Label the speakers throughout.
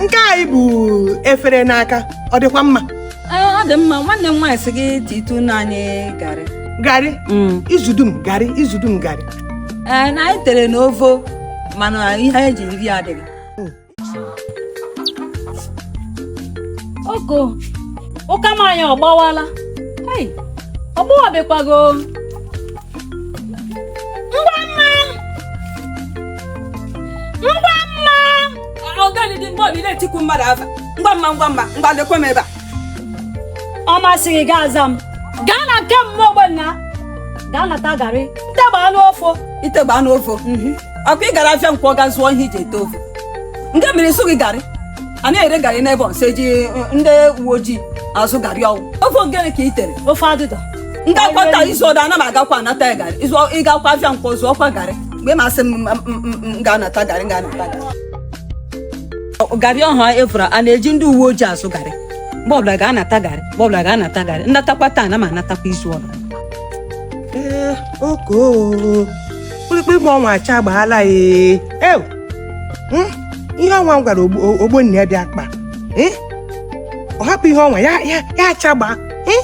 Speaker 1: nke anyị bụ efere n'aka ọ dịkwa mma Ee, ọ dị
Speaker 2: mma nwanne m nwaanyị sị gị titụ na anyị garị
Speaker 1: garị izu dum garị izu dum garị ee na anyị
Speaker 2: tere na ovo mana ihe eji iri adịghị
Speaker 3: oko ụka m anyị ọ gbawala Hey, ọ gbawabekwago ngwa mma ngwa mma
Speaker 2: ọgani dị mgbe ọbụla etikwu mmadụ afa ngwa mma ngwa mma ngwa lekwe m ebe
Speaker 3: a ọ masịghị gị aza m gaa na nke mama ogbonna gaa nata garị nteba anụ ovo
Speaker 2: itegba anụ ovo ọkwa ị gara afịa nkwọ ga zụọ ihe iji ete ofe ngene mere ị zụghị garị a na-ere garị n'ebe ọnwa eji ndị uwe ojii azụ garị ọhụ ofe ngene ka i tere ofe adụdọ
Speaker 3: ndị akwata
Speaker 2: izu ọdọ ana m agakwa anata ya garị ịzụ ịgakwa afịa nkwọ zụọkwa garị mgbe ị masị m m- m- m- m ga-anata garị m ga-anata garị garị ọha efura a na-eji ndị uwe ojii azụ garị mgbe ọbụla ga-anata garị mgbe ọbụla ga-anata garị nnatakwa taa na ma anatakwa izu ọdọ ee oko
Speaker 1: kpụrụkpụrụ ma ọnwa achagbaala ya ew Hmm? ihe ọnwa m gwara ogbo- o- ogbonnaya bịa kpa Eh? ọ hapụ ihe ọnwa ya ya ya achagbaa Eh?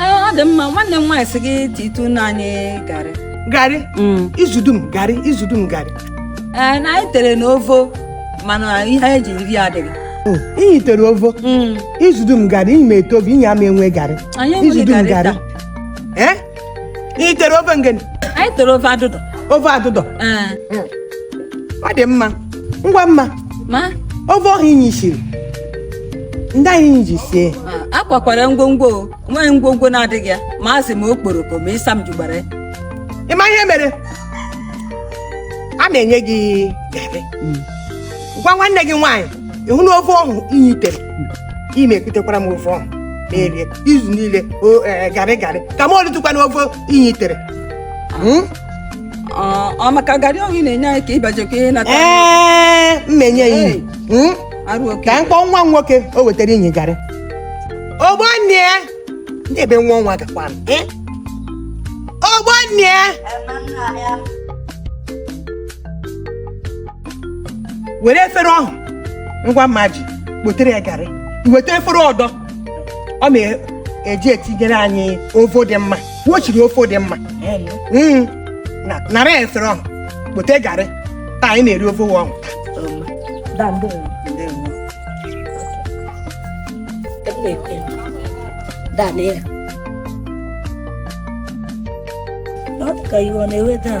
Speaker 1: ọ dị
Speaker 2: mma nwanne m nwaanyị sị gị titụ na anyị garị
Speaker 1: garị izu dum garị izu dum garị ee na anyị
Speaker 2: tere na ovo mana ihe eji iri adịghị iyi tere
Speaker 1: ovo izu dum garị iyi ma ete ovo iyi ama enwe garị anyị izu enweghị dum garị garị taa ee iyi tere ovo ngene anyị tere ofe adụdọ
Speaker 2: ofe adụdọ
Speaker 1: ee ọ dị mma ngwa mma ma
Speaker 2: ofe ọhụ
Speaker 1: inyi shiri ndị ihe inyi ji sie ma, akwakwara
Speaker 2: ngwongwo o. onweghị ngwongwo na-adịghị ya ma azụ ma okporoko ma ịsam jugbara ya ịma ihe mere
Speaker 1: a na-enye gị garị gwa nwanne gị nwaanyị ịhụ na ofe ọhụ inyi tere ị me-ekutekwara m ofe ọhụ m erie izu niile o ee, garị garị ka m olitụkwa na ofe inyi tere Mm?
Speaker 2: ọ maka garị ọhụ na-enye anyị ka ịbajekwa ihe nata ee m
Speaker 1: me-enye ya ihe Hmm? arụ oke ka m kpọọ nwa m nwoke o wetara inyi garị ogbonnaya ndị ebe nwa ọnwa gakwa m eh? ogbonnaya were efere ọhụ ngwa mma ji kpotere ya garị weta efere ọdọ ọ me-eji etinyere anyị ovo dị mma wo shiri ofe dị mma Mm. Na- nara ya efere ọhụ kpote garị taa anyị na-eri ofe wo ọhụ Da, ndewo. Da, lee ya. Ọ
Speaker 3: dị ka iwe ọ na-ewe daa.